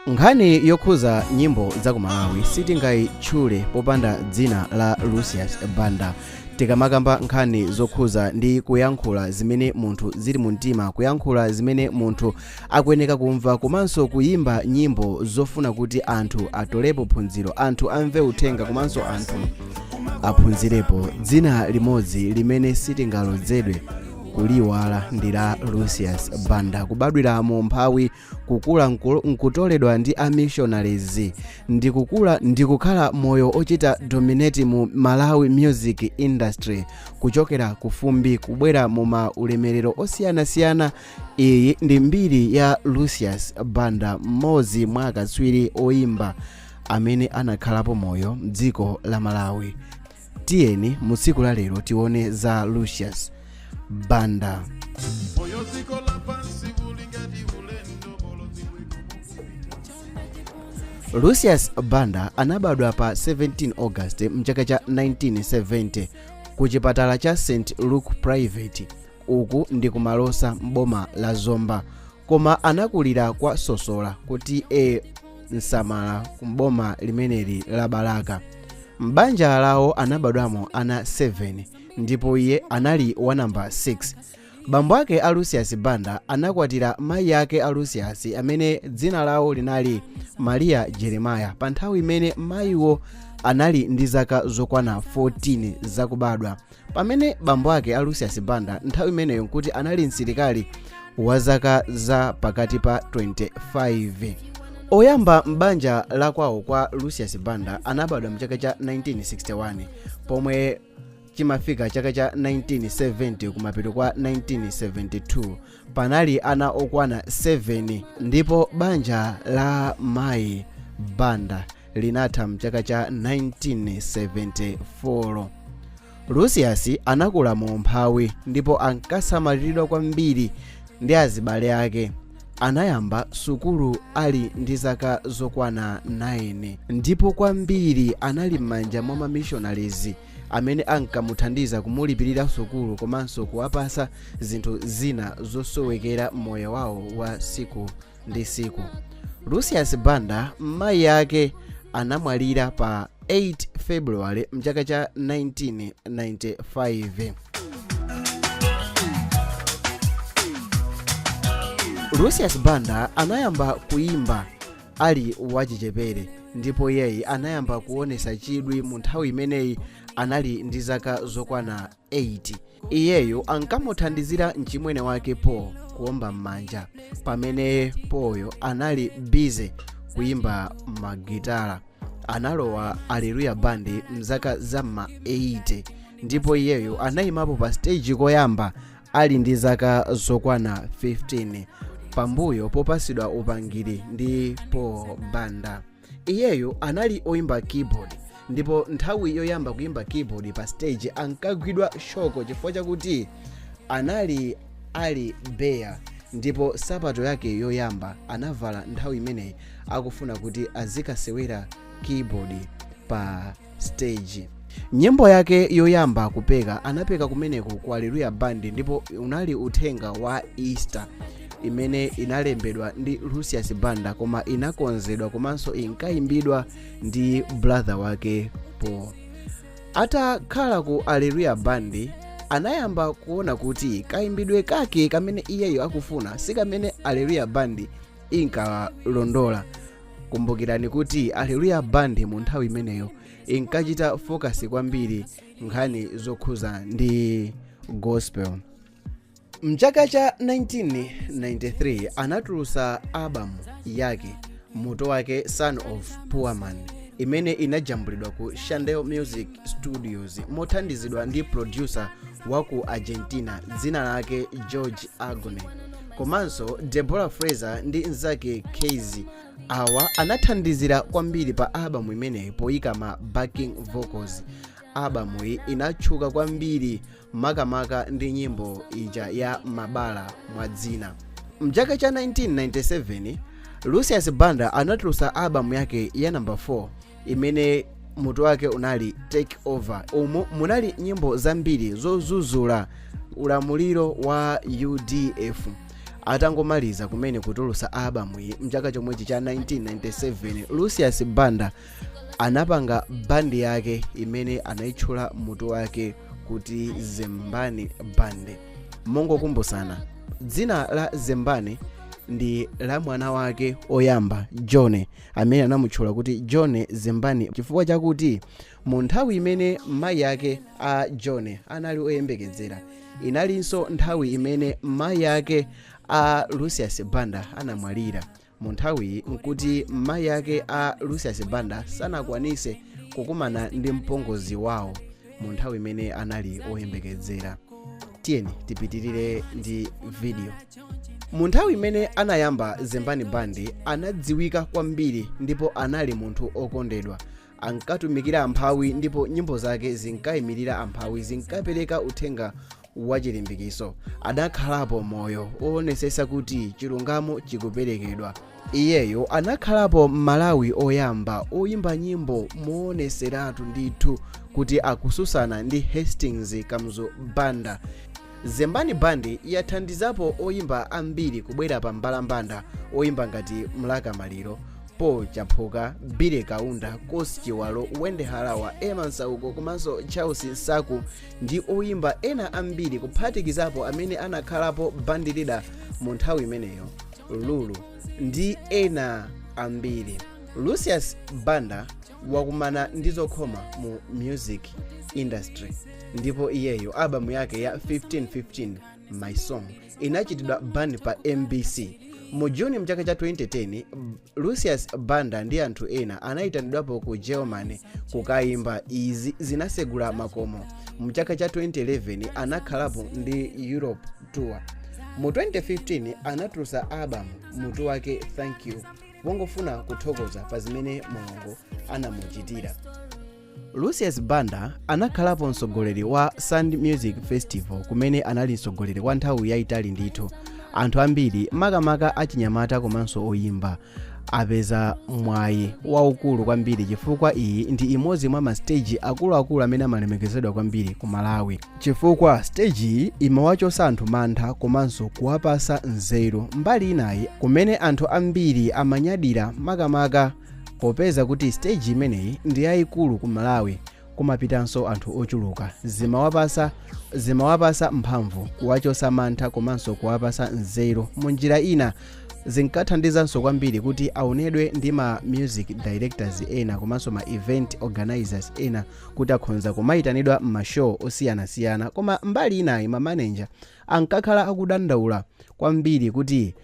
nkhani yokhuza nyimbo za ku malawi sitingayitchule popanda dzina la lucius banda tikamakamba nkhani zokhuza ndi kuyankhula zimene munthu zili mu mtima kuyankhula zimene munthu akuyeneka kumva komanso kuyimba nyimbo zofuna kuti anthu atolepo phunziro anthu amve uthenga komanso anthu aphunzirepo dzina limodzi limene sitingalodzedwe kuliyiwala ndi la lucius banda kubadwira mu umphawi kukula nkutoledwa ndi a missionaries ndi kukhala moyo ochita dominate mu malawi music industry kuchokera ku fumbi kubwera mu ma ulemerero osiyanasiyana iyi ndi mbiri ya lucius banda mmodzi mwa akatswiri oyimba amene anakhalapo moyo mdziko la malawi tiyeni mu tsiku la lero tione za lucius banda moyo wa dziko lapansi uli ngati ulendo bolodzi lucius banda anabadwa pa 17 august mchaka cha 1970 ku chipatala cha st luke private uku ndi ku malosa m'boma la zomba koma anakulira kwa sosola ku t a nsamala ku mboma limeneli la balaka m'banja lawo anabadwamo ana 7 ndipo iye anali wa namba 6 bambo ake a lucius banda anakwatira mayi ake a lucius amene dzina lawo linali maria jeremaya pa nthawi imene mayiwo anali ndi zaka zokwana 14 zakubadwa pamene bambo ake a lucius banda nthawi imeneyo nkuti anali msilikali wa zaka za pakati pa 25 oyamba m'banja la kwawo kwa lucius banda anabadwa mchaka cha 1961 pomwe chimafika chaka cha 1970 kumapeto kwa 1972 panali ana okwana 7 ndipo banja la mayi banda linatha mchaka cha 1974 lucius anakula mu umphawi ndipo ankasamaliridwa kwambiri ndi azibale ake anayamba sukulu ali ndi zaka zokwana 9 ndipo kwambiri anali m'manja mwa ma missionaries amene ankamuthandiza kumulipirira sukulu komanso kuwapasa zinthu zina zosowekera moyo wawo wa siku ndi siku lucius banda mayi ake anamwalira pa 8 february mchaka cha 1995 lucius banda anayamba kuimba ali wachichepere ndipo iyeyi anayamba kuonesa chidwi mu nthawi imeneyi anali ndi zaka zokwana 8 iyeyo ankamuthandizira mchimwene wake paul kuomba m'manja pamene paulyo anali busy kuyimba magitala analowa aleluya band mzaka za ma 80 ndipo iyeyo anayimapo pa stage koyamba ali ndi zaka zokwana 15 pambuyo popasidwa upangiri ndi paul banda iyeyo anali oyimba keyboard ndipo nthawi yoyamba kuyimba keyboard pa stage ankagwidwa shoko chifukwa chakuti anali ali bare ndipo sapato yake yoyamba anavala nthawi imeneyi akufuna kuti azikasewera keyboard pa stage nyimbo yake yoyamba kupeka anapeka kumeneko ku aleluya band ndipo unali uthenga wa easter imene inalembedwa ndi lucius banda koma inakonzedwa komanso inkayimbidwa ndi brother wake paul atakhala ku aleluya band anayamba kuona kuti kayimbidwe kake kamene iyeyo akufuna si kamene aleluya band inkalondola kumbukirani kuti aleluya band mu nthawi imeneyo inkachita focus kwambiri nkhani zokhuza ndi gospel mchaka cha 1993 anatulusa album yake mutu wake son of poor man imene inajambulidwa ku shandel music studios mothandizidwa ndi producer wa ku argentina dzina lake george agone komanso deborah fraser ndi mzake kasi awa anathandizira kwambiri pa albamu imeneyi poyika ma backing vocals albamuyi inatchuka kwambiri makamaka ndi nyimbo ija ya mabala mwazina mchaka cha 1997 lucius banda anatulutsa albamu yake ya namba 4 imene mutu wake unali take over umu munali nyimbo zambiri zozuzula ulamuliro wa udf atangomaliza kumene kutulusa albamu iyi mchaka chomwechi cha 1997 lucius banda anapanga bandi yake imene anayitchula mutu wake kuti zembani band mongokumbusana dzina la zembani ndi la mwana wake oyamba john amene anamutchula kuti john zembani chifukwa chakuti mu nthawi imene mayi ake a john anali oyembekezera inalinso nthawi imene mayi ake a lucius banda anamwalira mu nthawiyi nkuti mayi ake a lucius banda sanakwanise kukumana ndi mpongozi wawo mu nthawi imene anali oyembekezera tiyeni tipitirire ndi video mu nthawi imene anayamba zembani band anadziwika kwambiri ndipo anali munthu okondedwa ankatumikira amphawi ndipo nyimbo zake zinkayimirira amphawi zinkapereka uthenga wachilimbikiso anakhalapo moyo owonesesa kuti chilungamo chikuperekedwa Iyeyo anakhalapo m'Malawi oyamba oyimba nyimbo mooneseratu ndithu kuti akususana ndi Hastings Kamuzu Banda. Zembani Band yathandizapo oyimba ambiri kubwera pa mbalambanda oyimba ngati Mlaka Maliro, Paul Chaphuka, Billy Kaunda, Coss Chiwalo, Wendy Harawa, Emma Masauko komanso Charles Nsaku ndi oyimba ena ambiri kuphatikizapo amene anakhalapo Band Leader mu nthawi imeneyo. lulu ndi ena ambiri lucius banda wakumana ndi zokhoma mu music industry ndipo iyeyo albamu yake ya 15 15 my song inachitidwa ban pa mbc mu juni mchaka cha 2010 lucius banda ndi anthu ena anayitanidwapo ku germany kukayimba izi zinasegula makomo mchaka cha 2011 anakhalapo ndi europe tour mu 2015 anatulusa albamu mutu wake thank you pongofuna kuthokoza pa zimene mulungu anamuchitira lucius banda anakhalapo mtsogoleri wa sand music festival kumene anali mtsogoleri kwa nthawi yayitali ndithu anthu ambiri makamaka achinyamata komanso oyimba apeza mwayi waukulu kwambiri chifukwa iyi ndi imodzi mwa masteji akuluakulu amene amalemekezedwa kwambiri ku malawi chifukwa steji iyi imawachosa anthu mantha komanso kuwapasa nzeru mbali inayi kumene anthu ambiri amanyadira makamaka popeza kuti steji imeneyi ndi yayikulu ku malawi kumapitanso anthu ochuluka zimawapasa zimawapasa mphamvu kuwachosa mantha komanso kuwapasa nzeru mu njira ina zinkathandizanso kwambiri kuti aonedwe ndi ma music directors ena komanso ma event organizers ena kuti akhonza kumayitanidwa m'mashow osiyanasiyana koma mbali inayi mamaneja ankakhala akudandaula kwambiri kuti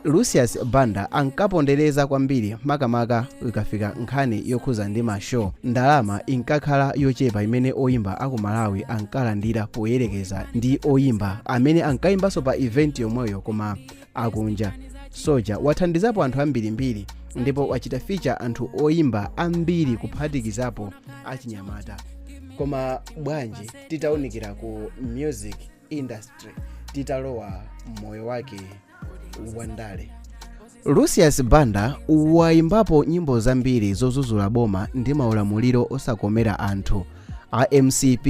lucius banda ankapondereza kwambiri makamaka ikafika nkhani yokhuza ndi mashow ndalama inkakhala yochepa imene oyimba aku malawi ankalandira poyerekeza ndi oyimba amene ankayimbanso pa event yomweyo koma akunja soja wathandizapo anthu ambirimbiri ndipo wachita feature anthu oyimba ambiri kuphatikizapo achinyamata koma bwanji titaunikira ku music industry titalowa m'moyo wake wandale lucius banda wayimbapo nyimbo zambiri zozuzula boma ndi maulamuliro osakomera anthu a mcp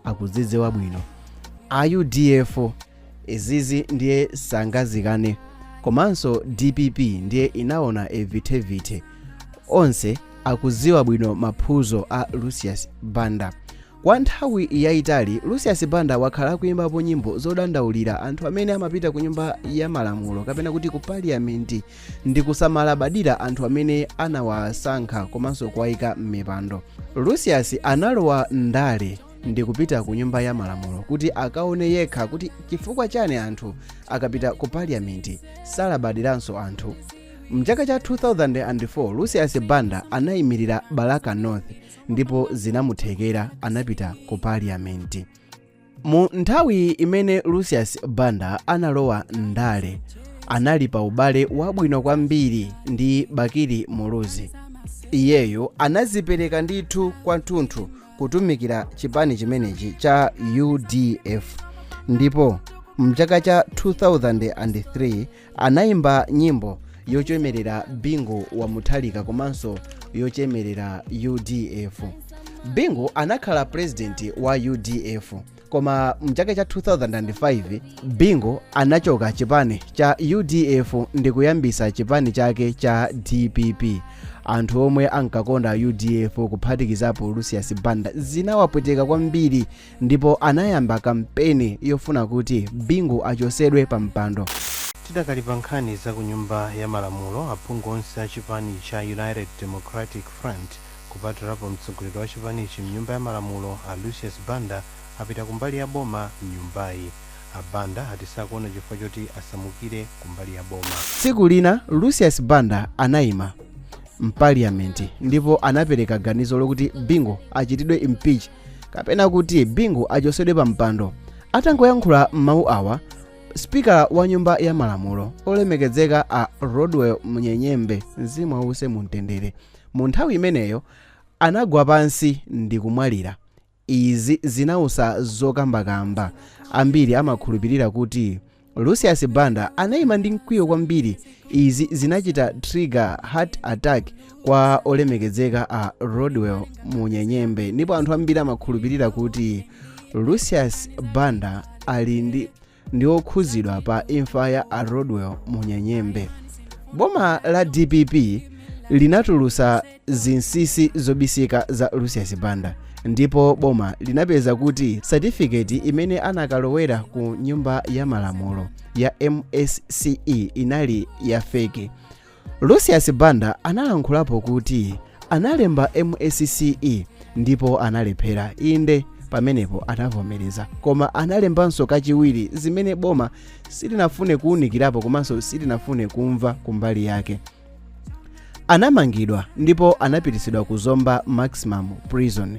akuzidziwa bwino a udf izizi ndiye sangazikane komanso dpp ndiye inaona evitevite onse akudziwa bwino maphuzo a lucius banda Kwa nthawi yaitali, Lucius Banda wakhala akuimbapo nyimbo zodandaulira anthu amene amapita ku nyumba ya malamulo kapena kuti ku parliament ndi kusamalabadira anthu amene anawasankha komanso kuwaika m'mipando. Lucius analowa m'ndale ndi kupita ku nyumba ya malamulo kuti akaone yekha kuti chifukwa chani anthu akapita ku parliament salabadiranso anthu. Mchaka cha 2004, Lucius Banda anaimirira Balaka North ndipo zinamuthekera anapita ku paliyamenti mu nthawi imene lucius banda analowa ndale anali pa ubale wabwino kwambiri ndi bakili muluzi iyeyo anazipereka ndithu kwathunthu kutumikira chipani chimenechi cha udf ndipo mchaka cha 2003 Anaimba nyimbo yochemelera Bingu wa Mutharika komanso yochemelera udf. Bingu anakhala president wa udf koma mchaka cha 2005 Bingu anachoka chipani cha udf ndi kuyambisa chipani chake cha dpp. Anthu omwe ankakonda udf kuphatikizapo Lucius Banda zinawapweteka kwambiri ndipo anayamba kampeni yofuna kuti bingu achosedwe pa mpando tidakali pa nkhani za ku nyumba ya malamulo aphungu onse a chipani cha united democratic front kupatulapo mtsogoleri wa chipanichi mnyumba ya malamulo a lucius banda apita kumbali ya boma mnyumbayi a banda ati sakuona chifukwa choti asamukire kumbali ya boma tsiku lina lucius banda anayima mpaliyamenti ndipo anapereka ganizo lokuti bingu achitidwe impeach kapena kuti bingu achosedwe pa mpando atangoyankhula mawu awa sipikala wa nyumba ya malamulo olemekezeka a rodwell munyenyembe mzimu wause mumtendere mu nthawi imeneyo anagwa pansi ndi kumwalira izi zinautsa zokambakamba ambiri amakhulupirira kuti lucius banda anayima ndi mkwiyo kwambiri izi zinachita trigger heart attack kwa olemekezeka a rodwell munyenyembe ndipo anthu ambiri amakhulupirira kuti lucius banda ali ndi okhuzidwa pa imfa ya a rodwell munyenyembe boma la dpp linatulusa zinsisi zobisika za Lucius Banda ndipo boma linapeza kuti satifiketi imene anakalowera ku nyumba ya malamulo ya MSCE inali ya fake. Lucius Banda analankhulapo kuti analemba MSCE ndipo analephera inde pamenepo anavomereza koma analembanso kachiwiri zimene boma silinafune kuunikirapo komanso silinafune kumva kumbali yake anamangidwa ndipo anapititsidwa ku Zomba Maximum Prison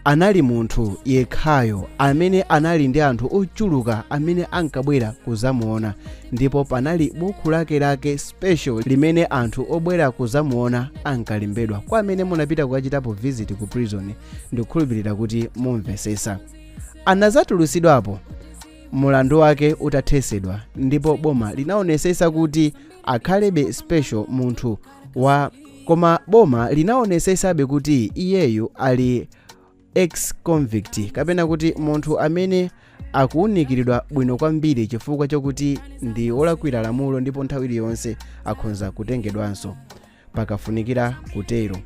anali munthu yekhayo amene anali ndi anthu ochuluka amene ankabwera kuzamuona ndipo panali buku lake lake special limene anthu obwera kuzamuona ankalembedwa kwa amene munapita kukachitapo visit ku prison ndikukhulupirira kuti mumvesesa anazatulusidwapo mulandu wake utathesedwa ndipo boma linaonesesa kuti akhalebe special munthu wa koma boma linaonesesabe kuti iyeyu ali ex convict kapena kuti munthu amene akuwunikiridwa bwino kwambiri chifukwa chokuti ndi olakwira lamulo ndipo nthawi iliyonse akhonza kutengedwanso pakafunikira kutero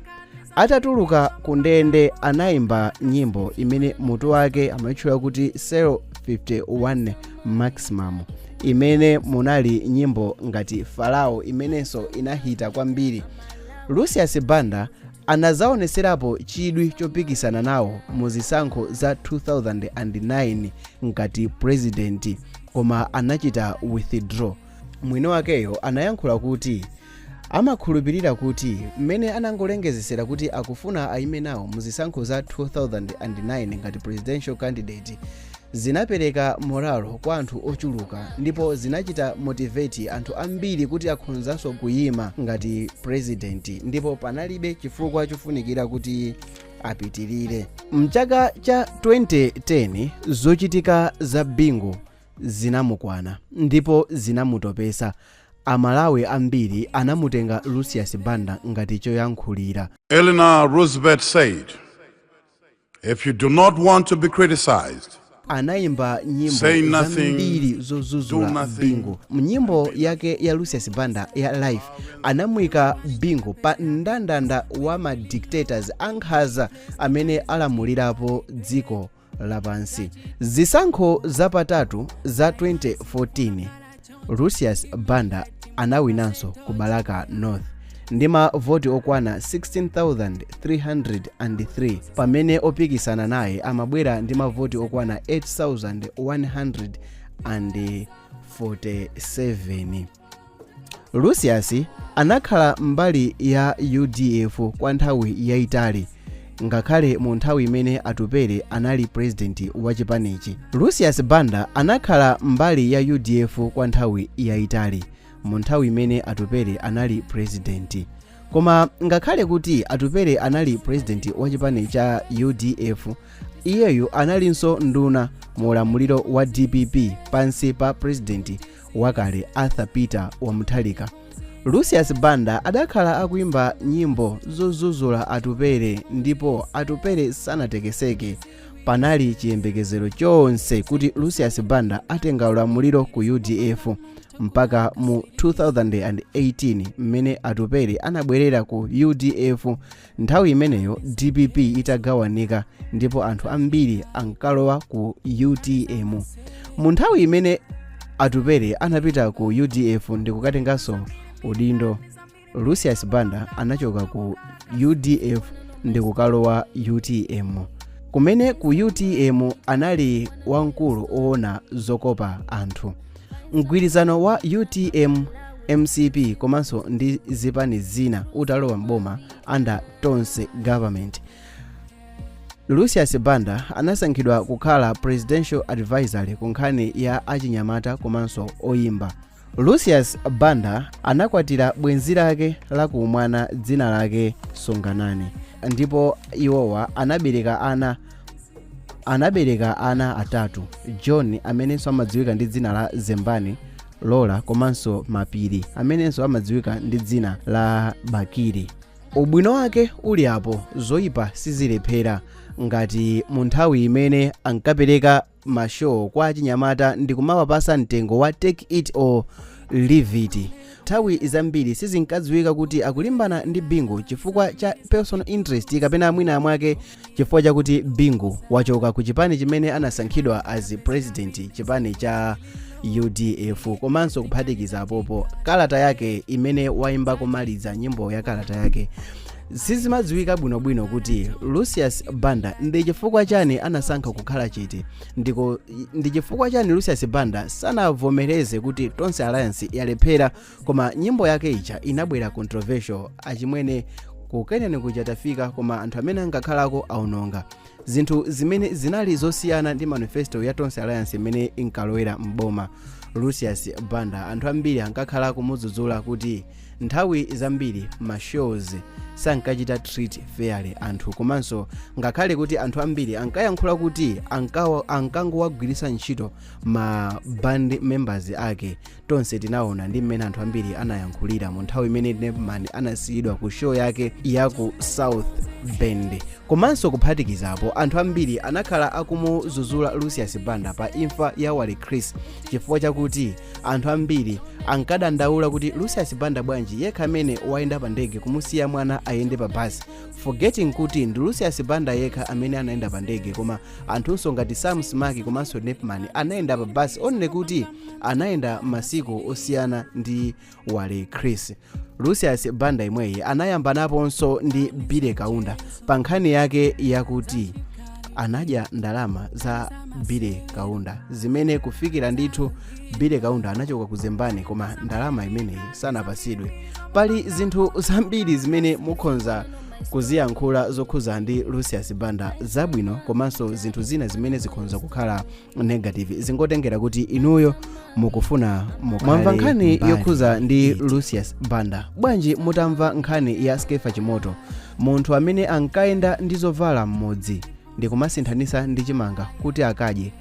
atatuluka ku ndende anayimba nyimbo imene mutu wake amatchula kuti Cell 51 Maximum imene munali nyimbo ngati Farao imenenso inahita kwambiri Lucius Banda anazaoneserapo chidwi chopikisana nawo mu zisankho za 2009 ngati purezidenti koma anachita withdraw mwini wakeyo anayankhula kuti amakhulupirira kuti mmene anangolengezesera kuti akufuna ayime nawo mu zisankho za 2009 ngati presidential candidate zinapereka moralo kwa anthu ochuluka ndipo zinachita motivate anthu ambiri kuti akhonzanso kuyima ngati president ndipo panalibe chifukwa chofunikira kuti apitirire mchaka cha 2010 zochitika za Bingu zinamukwana ndipo zinamutopesa Amalawi ambiri anamutenga Lucius Banda ngati choyankhulira. Eleanor Roosevelt said, If you do not want to be criticized, Anayimba nyimbo Say nothing, zambiri do zodzudzula nothing. Bingu. Mnyimbo yake ya Lucius Banda ya Life anamuyika Bingu pa ndandanda wa ma dictators ankhaza amene alamulirapo dziko lapansi zisankho zapatatu za 2014 Lucius Banda anawinanso ku Balaka North ndi mavoti okwana 16303 pamene opikisana naye amabwera ndi mavoti okwana 8147 lucius anakhala mbali ya udf kwa nthawi yayitali ngakhale mu nthawi imene atupele anali purezidenti wa chipanichi lucius banda anakhala mbali ya udf kwa nthawi yayitali mu nthawi imene atupele anali purezidenti koma ngakhale kuti atupele anali purezidenti wa chipani cha udf iyeyu analinso nduna mu ulamuliro wa dpp pansi pa purezidenti wakale arthur peter wa mutharika lucius banda adakhala akuimba nyimbo zozuzula atupere ndipo atupere sanatekeseke panali chiyembekezero chonse kuti lucius banda atenga ulamuliro ku udf mpaka mu 2018 mmene atupere anabwerera ku udf nthawi imeneyo dpp itagawanika ndipo anthu ambiri ankalowa ku utm mu nthawi imene atupere anapita ku udf ndikukatenganso udindo lucius banda anachoka ku udf ndikukalowa utm kumene ku utm anali wamkulu owona zokopa anthu mgwirizano wa utm mcp komanso ndi zipani zina utalowa mboma under tonse government lucius banda anasankhidwa kukhala presidential advisory ku nkhani ya achinyamata komanso oyimba lucius banda anakwatira bwenzi lake la ku umwana dzina lake sunganani ndipo iwowa anabereka ana anabereka ana atatu john amenenso amadziwika ndi dzina la zembani laura komanso mapiri amenenso amadziwika ndi dzina la bakili ubwino wake uli apo zoyipa sizilephera ngati mu nthawi imene ankapereka ma show kwa achinyamata ndikumawapasa mtengo wa take it or leave it. Nthawi zambiri sizinkadziwika kuti akulimbana ndi Bingu chifukwa cha personal interest kapena mwina mwake chifukwa chakuti Bingu wachoka ku chipani chimene anasankhidwa as president chipani cha udf komanso kuphatikiza apopo kalata yake imene waimba komaliza nyimbo ya kalata yake sizimadziwika bwinobwino kuti lucius banda ndi chifukwa chani anasankha kukhala chete ndipo ndi chifukwa chani lucius banda sanavomereze kuti tonse alliance yalephera koma nyimbo yake ija inabwera controversial achimwene kukeneni kuja tafika koma anthu amene angakhalako aononga zinthu zimene zinali zosiyana ndi manifesto ya tonse alliance imene inkalowera m'boma lucius banda anthu ambiri ankakhala akumudzudzula kuti nthawi zambiri mashows sankachita treat fairly anthu komanso ngakhale kuti anthu ambiri ankayankhula kuti ankangowagwiritsa ntchito ma band members ake tonse tinaona ndi mmene anthu ambiri anayankhulira mu nthawi imene nepman anasiyidwa ku show yake ya ku south bend komanso kuphatikizapo anthu ambiri anakhala akumudzudzula lucius banda pa imfa ya wale chris chifukwa chakuti anthu ambiri ankadandaula kuti lucius banda bwanji yekha amene wayenda pa ndege kumusiya mwana ayende pa basi forgetting kuti ndi lucius banda yekha amene anayenda pa ndege koma anthunso ngati sam smack komanso nepman anayenda pa basi only kuti anayenda masiku osiyana ndi wale chris lucius banda imweyi anayambanaponso ndi billy kaunda pa nkhani yake yakuti anadya ndalama za billy kaunda zimene kufikira ndithu billy kaunda anachoka ku zembani koma ndalama imeneyi sanapasidwe pali zinthu zambiri zimene mukhonza kuziyankhula zokhuza ndi lucius banda zabwino komanso zinthu zina zimene zikhonza kukhala negative zingotengera kuti inuyo mukufuna mwamva nkhani yokhuza ndi lucius banda bwanji mutamva nkhani ya skeffa chimoto munthu amene ankayenda ndi zovala m'mudzi ndi kumasinthanisa ndi chimanga kuti akadye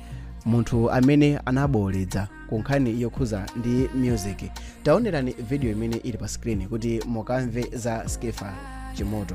munthu amene anabowoleza ku nkhani yokhuza ndi music taonerani video imene ili pa screen kuti mukamve za skeffa chimoto